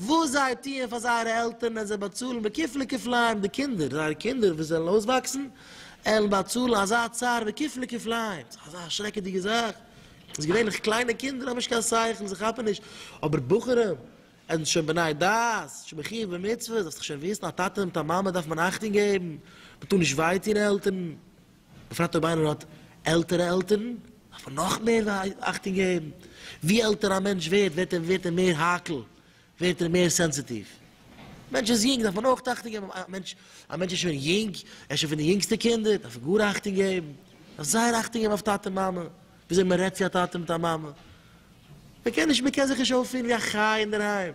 וואס זיי טוען פאר זייערע עלטערן ווען זיי באצאלן בכפלי כפליים די קינדער, זייערע קינדער וואס וועלן אויסוואקסן עלן באצאלן אזא צער בכפלי כפליים, ס'איז אזא שרעקעדיגע זאך, אז געווענליך קליינע קינדער האבן נישט קיין שכל, זיי כאפן נישט, אבער בחורים, ענדערש שוין בני דעת, שוין מחיוב במצוות, דארפסט דאך שוין וויסן, א טאטע מיט א מאמע דארף מען אכטונג געבן, מ'טאר נישט וויי טון עלטערן. בפרט אויב איינער האט עלטערע עלטערן, דארף ער נאך מער אכטונג געבן. ווי עלטער א מענטש ווערט, ווערט ער ווערט ער מער האקל, ווערט ער מער סענסיטיוו. א מענטש איז יונג, דארף מען אויך אכטונג געבן. א מענטש א מענטש איז שוין יונג, ער איז שוין פון די יונגסטע קינדער, דארף ער גאר אכטונג געבן. דארף זייער אכטונג געבן אויף טאטע און מאמע, ווי אזוי מען רעדט צו א טאטע מיט א מאמע. מען קען נישט מען קען זיך נישט אויפפירן ווי א חי' אינדערהיים.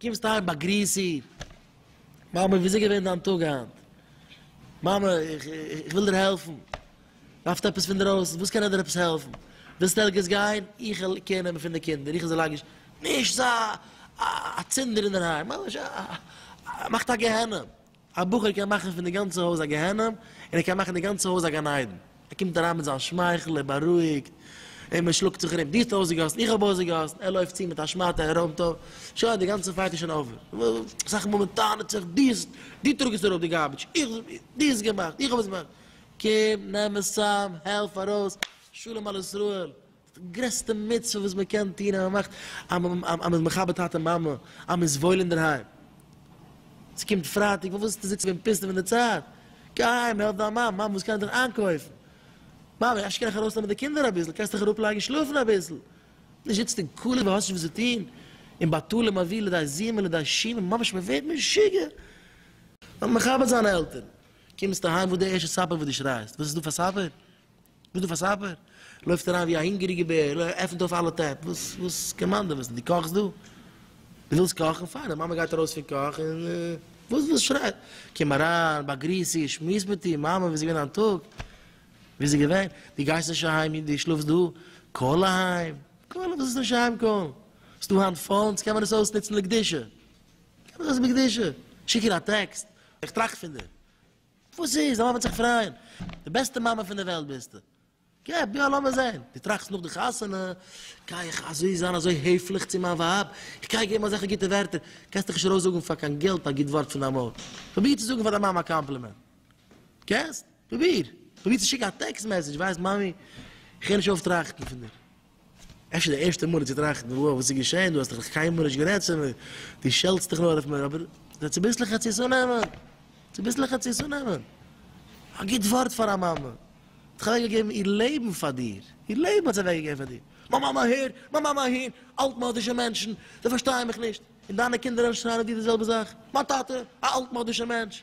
קומסט אהיים באגריס איר, מאמע ווי איז געווען דיין טאג היינט? מאמע איך וויל דיר העלפן, דארפסט עפעס פונדרויסן? וואס קען איך דיר עפעס העלפן? ווילסט ערגעץ גיין? איך וועל קעיר נעמען פון די קינדער, איך וועל זיי לייגן, נישט זיי א צינדער אינדערהיים, ממש א, מאכט א גיהנום. א בחור קען מאכן פון די גאנצע הויז א גיהנום, און ער קען מאכן די גאנצע הויז א גן עדן. ער קומט אריין מיט זיין שמייכל, ער בארואיגט, און מען שלאגט זיך ארום, דו האסט אויסגעגאסן, איך האב אויסגעגאסן, ער לויפט צו מיט א שמאטע, ער רוימט אויף, שוין, די גאנצע פייט איז שוין אווער. אסאך מאל מען טענה'ט זיך, דו האסט, דו טראגסט אראפ די גארביטש, איך, דו האסט געמאכט, איך האב עס געמאכט. קום, נעם עס צאם, העלף ארויס, שלום על ישראל. די גרעסטע מצוה וואס מען קען טון אז מען מאכט אז מען איז מכבד טאטע מאמע, אז מען איז וואויל אינדערהיים. עס קומט פרייטאג, וואס ווילסטו זיצן ווען פינסטער ווען די צייט? גיי אהיים העלף דיין מאמע, מאמע וואס קען איך דען איינקויפן? מאמע אפשר קען איך ארויסנעמען די קינדער אביסל, קענסט דיך אראפ לייגן שלאפן אביסל? נישט זיצן אין כולל ווען האסט נישט וואס צו טון, און בטלה מביא לידי זימה לידי שימה, ממש מען ווערט משוגע. מען זאל מכבד זיין עלטערן, קומסט אהיים וואס איז די ערשטע ספר וואס די שרייסט? וואס איז דא פאר ספר? וואס דו פאר סאפער? לויפט אריין ווי א הונגעריגע בער, עפענט אויף אלע טעפ, וואס וואס קיין מאן דער וועסט, דו קאכסט דא? דו ווילסט קאכן? פיין, די מאמע גייט ארויס פון קאך און וואס וואס שרייט, קום אריין, באגריס איר, שמועס מיט איר, מאמע ווי איז געווען דיין טאג? ווי איז געווען? דו גייסט נישט אהיים, דו שלאפסט דא? קאל אהיים, קאל, וואס איז נישט אהיים קאלן? ס'איז דא היינט פאונס, קען מען עס אויסנוצן לקדושה, קען מען עס בקדושה, שיק איר א טעקסט, איך טראכט פון דיר, וואס איז? א מאמע וועט זיך פרייען. די בעסטע מאמע פון די וועלט ביסטו. געב יא לאמיר זעהן. דו טראכסט נאך די חתונה, גיי איך אזוי זיין אזוי העפליך צו מיין ווייב, איך גיי איר געבן אזעלכע גוטע ווערטער. קענסט דיך נישט ארויסזאגן פאר קיין געלט א גוט ווארט פון דיין מויל. פרוביר צו זאגן פאר דיין מאמע א קאמפלימענט. קענסט? פרוביר. פרוביר צו שיקן א טעקסט מעסעדזש, ווייסט מאמי, איך הער נישט אויף טראכטן פון דיר. אפשר די ערשטע מאל צו טראכטן וואו וואס איז געשען, דו האסט דאך נאך קיינמאל נישט גערעדט צו מיר, דו שעלטסט דיך נאר אויף מיר, אבער זיי צוביסלעך צו עס אננעמען, צוביסלעך צו עס אננעמען, א גוט ווארט פאר א מאמע, האט דאך אוועק געגעבן איר לעבן פאר דיר, איר לעבן האט זי אוועק געגעבן פאר דיר, מיין מאמע אהער, מיין מאמע אהין, אלט מאדישע מענטשן, זיי פארשטייען מיך נישט, און דיינע קינדער אנשרייען דיר די זעלבע זאך, מיין טאטע, א אלט מאדישע מענטש.